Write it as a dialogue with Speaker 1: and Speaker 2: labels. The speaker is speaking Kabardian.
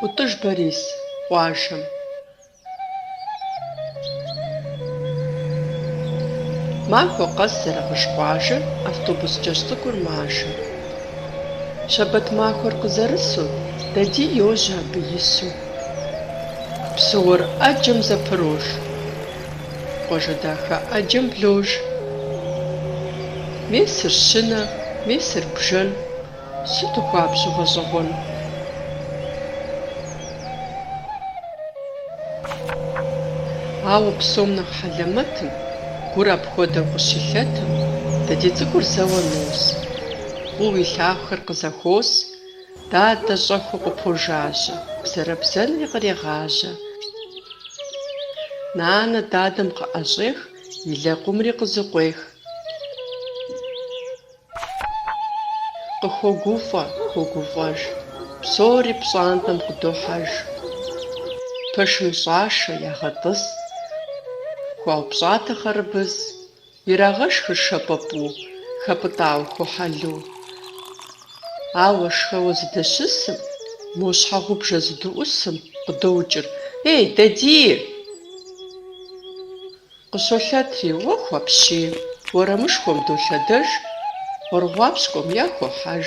Speaker 1: ӏутӏыж Борис къуажэм. Махуэ къэс Зэрэгъыж къуажэ автобус кӏэщӏ цӏыкӏур мажэ. Щэбэт махуэр къызэрысу, Дади йожьэ абы ису. Псы уэр ӏэджэм зэпырож. Къуажэ дахэ ӏэджэм блож. Месыр щынэ, месыр бжэн. Сыту хуабжьу гъэщӏэгъуэн. Ауэ псом нэхъ хьэлэмэтым, Гур апхуэдэу къыщилъэтым, Дади цӏыкӏур зэуэ нос. Фӏыуэ илъагъухэр къызэхуос. Дадэ щӏэхыу къыпожажьэ. Бзэрэбзэнри кърегъажьэ. Нанэ дадэм къыӏэщӏех. И лэкъумри къызыкъуех. Къыхогуфӏэ, хогуфӏэж. Псори пщӏантӏэм къыдохьэж. Пэшым щӏашэ, ягъэтӏыс. Хуаупщӏатэ хъэрыбыз. Ирагъэшхыр шэпӏапӏу, хэпӏытӏауэ ху хьэлу. Ауэ шхэуэ зыдэщысым, мо щхьэгъубжэ зыдыӏусым къыдоӏукӏыр, Ей, Дадий! Къыщолъэтри, Уэху апщий! Уэрамышхуэм долъэдэж, гъуэрыгъуапщкӏуэм яхохьэж.